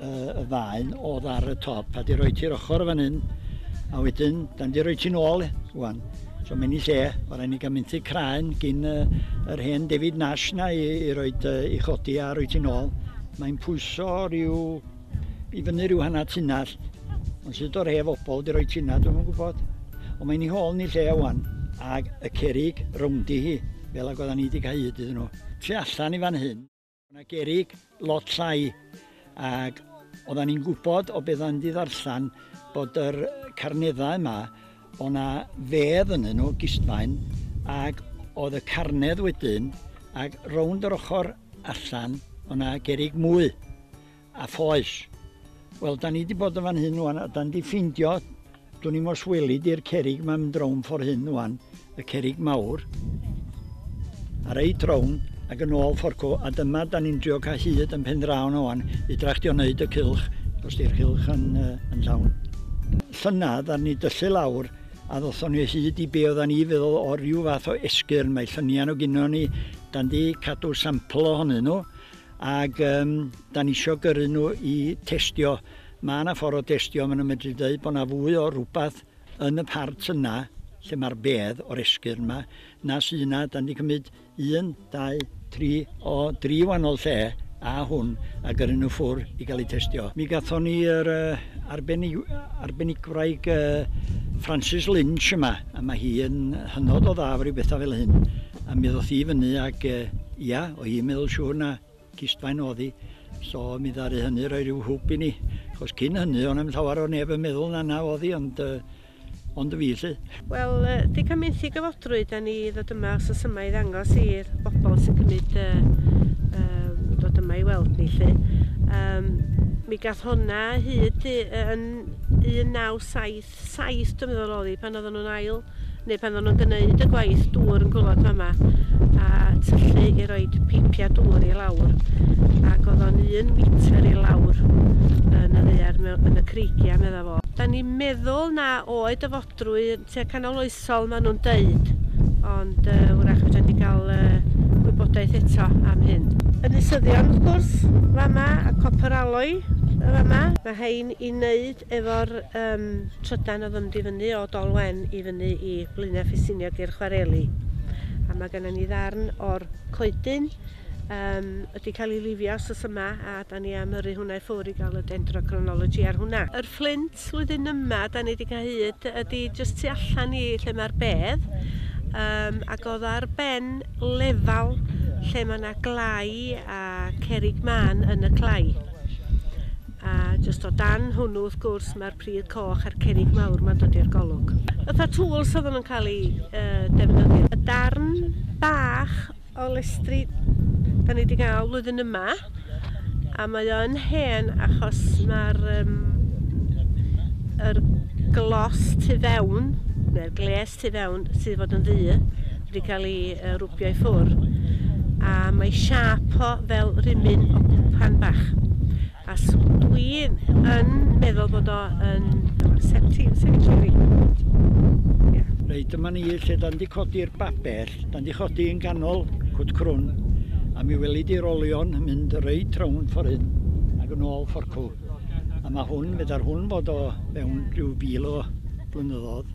uh, y faen oedd ar y top a di roi ti'r ochr fan hyn a wedyn da ni di roi ti'n ôl wan so mae'n i lle o rai ni gael mynd i craen gyn uh, yr hen David Nash na i, i roi uh, i chodi a roi ti'n ôl mae'n pwyso rhyw i fyny rhyw hanna tunnall ond sydd o'r hef obol di roi tina dwi'n gwybod ond mae'n i hôl ni lle wan ag y cerig rowndi hi fel ag oedden ni wedi cael hyd iddyn nhw tu allan i fan hyn Mae yna gerrig lot llai ac oedden ni'n gwybod o beth o'n ddarllen bod yr carneddau yma, o na fedd yn nhw, gistfaen, ac oedd y carnedd wedyn, ac rownd yr ochr allan, o na gerrig mwy. A phoes. Wel, da ni di bod yn fan hyn ŵan, a da ni di ffindio, dwn i'm os weli di'r cerig ma'n mynd rownd ffordd hyn ŵan, y cerig mawr, a reit rownd, ac yn ôl fforcw, a dyma da ni'n drio cael hyd yn pen draw na ŵan, i dractio wneud y cylch, os di'r cylch yn, uh, yn llawn. Llynad, ar ni dyllu lawr, a ddothon ni hyd i be oeddan ni feddwl o ryw fath o esgyrn, mae llynian o gyno ni, da ni cadw sampl ohonyn nhw, Ac yym da ni isio gyrru nhw i testio. Mae yna ffordd o destio, maen nhw'n medru dweud bod yna fwy o rywbeth yn y part yna lle mae'r bedd o'r esgyrn yma na sy'n yna. Da ni wedi cymryd un, dau, tri o dri wahanol lle a hwn a gyrru nhw ffwr i gael eu testio. Mi gathon ni yr uh, arbennig, arbenigwraig uh, Francis Lynch yma, a mae hi yn hynod o dda efo rhyw bethau fel hyn. A mi ddoth i fyny ac uh, ia, o hi'n meddwl siŵr na cistfaen oedd hi. So mi ddaru hynny roi rhyw hwb i ni. Chos cyn hynny, o'n am llawer o neb yn meddwl na na oedd hi, ond, uh, ond y fi lle. Wel, uh, di cymryd i gyfodrwy, da ni ddod yma os oes yma i ddangos i'r bobl sy'n cymryd uh, uh, dod yma i weld ni lle. Um, mi gath hwnna hyd yn 1970 saith dwi meddwl o'dd 'i pan oddan nw'n ail neu pan oddan nw'n gneud y gwaith dŵr yn gwlad fama a tyllu i roed peipia dŵr i lawr ac o'dd o'n un metr i lawr yn y ddaear mewn yn y creigia medda fo. Da ni'n meddwl na oed y fodrwy tua canol oesol ma' nhw'n deud ond uh, wrach fedra ni gael uh, gwybodaeth eto am hyn. Ynysyddion wrth gwrs fama a copper alloy fama. Mae hein i wneud Efo'r yym trydan o'dd yn mynd i fyny o Dol Wen i fyny i Blaenau Ffestiniog i'r chwareli. A ma' gynnon ni ddarn o'r coedyn yym wedi ca'l 'i lifio wsos yma a 'dan ni am yrru hwnna i ffwr' i ga'l y dendrochronology ar hwnna. Yr fflint flwyddyn yma 'dan ni 'di ca'l hyd ydi jyst tu allan i lle ma'r bedd yym ag o'dd ar ben lefal lle ma' 'na glai a cerrig mân yn y clai. A jyst o dan hwnnw wrth gwrs mae'r pridd coch a'r cerrig mawr ma'n dod i'r golwg. Fatha tools oedden nhw'n cael eu defnyddio. Y darn bach o lestri 'da ni 'di gael flwyddyn yma a mae o yn hen achos mae'r yym yr glos tu fewn neu'r gles tu fewn sydd fod yn ddu wedi cael ei uh, rwbio i ffwr a mae siap o fel rhymyn o gwpan bach a dwi yn meddwl bod o yn septi, septi Reit, dyma ni lle da ni codi'r babell, da ni chodi yn ganol cwt crwn, a mi weli di'r olion yn mynd reit rownd ffordd hyn ac yn ôl fforcw. A mae hwn, feda'r hwn fod o mewn rhyw fil o blynyddoedd.